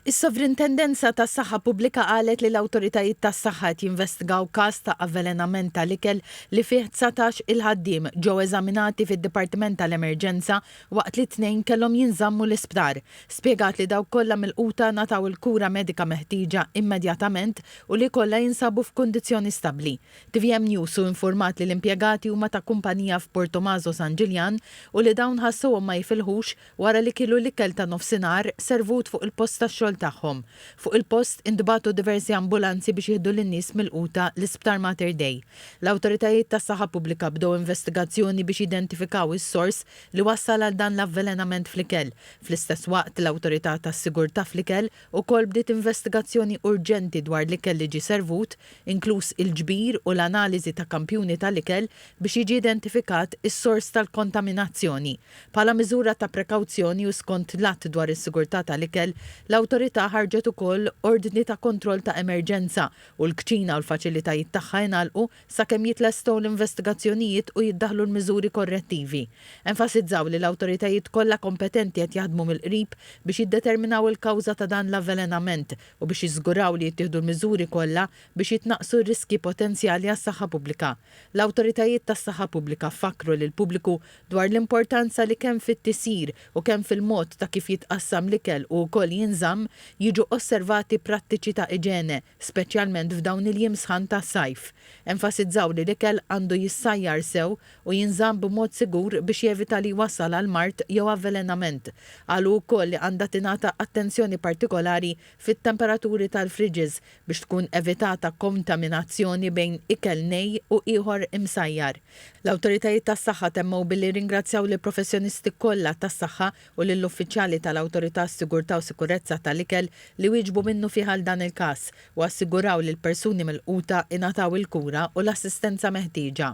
Is-Sovrintendenza tas-Saħħa Pubblika qalet li l-awtoritajiet tas-saħħa qed jinvestigaw każ ta' avvelenament tal-ikel li fih dsatax il-ħaddiem ġew eżaminati fid-Dipartiment tal-Emerġenza waqt li tnejn kellhom jinżammu l-isptar. Spjegat li dawk kollha milquta ngħataw il-kura medika meħtieġa immedjatament u li kollha jinsabu f'kundizzjoni stabbli. Tvm News hu infurmat li l-impjegati huma ta' kumpanija f'Portomaso San Ġiljan u li dawn ħassuhom ma jifilħux Wara li kielu l-ikel ta' nofsinhar, servut fuq il-post tax-xogħol tagħhom. Fuq il-post, intbagħtu diversi ambulanzi biex jieħdu lin-nies milquta l-Isptar Mater Dei. L-awtoritajiet tas-saħħa pubblika bdew investigazzjoni biex jidentifikaw is-sors li wassal għal dan l-avvelenament fl-ikel. Fl-istess waqt, l-Awtorità tas-Sigurtà fl-Ikel ukoll bdiet investigazzjoni urġenti dwar l-ikel li ġie servut, inkluż il-ġbir u l-analiżi ta' kampjuni tal-ikel biex jiġi identifikat is-sors tal-kontaminazzjoni. Bħala miżura ta' prekawzjoni u skont l-Att dwar is-Sigurtà tal-Ikel, l-Awtorità ħarġet ukoll Ordni ta' Kontroll ta' Emerġenza u l-kċina u l-faċilitajiet tagħha ingħalqu sakemm jitlestqu l-investigazzjonijiet u jiddaħħlu l-miżuri korrettivi. Enfasizzaw li l-awtoritajiet kollha kompetenti qed jaħdmu mill-qrib biex jiddeterminaw il-kawża ta' dan l-avvelenament u biex jiżguraw li jittieħdu l-miżuri kollha biex jitnaqqsu r-riskji potenzjali għas-saħħa pubblika. L-awtoritajiet tas-saħħa pubblika fakkru lill-pubbliku dwar l-importanza li kemm fit-tisjir u kemm fil-mod ta' kif jitqassam l-ikel u wkoll jinżamm, jiġu osservati prattiċi ta' iġene, speċjalment f'dawn il-jiem sħan tas-sajf. Enfasizzaw li l-ikel għandu jissajjar sew u jinżamm b'mod sigur biex jevita li jwassal għal mard jew avvelenament. Qalu wkoll li għandha tingħata attenzjoni partikolari fit-temperaturi tal-fridges biex tkun evitata kontaminazzjoni bejn ikel nej u ieħor imsajjar. L-awtoritajiet tas-saħħa temmew billi rringrazzjaw lill-professjonisti kollha tas-saħħa u lill-uffiċjali tal-Awtorità għas-Sigurtà u Sikurezza tal-Ikel li wieġbu minnufih għal dan il-każ u assiguraw li l-persuni milquta ingħataw il-kura u l-assistenza meħtieġa.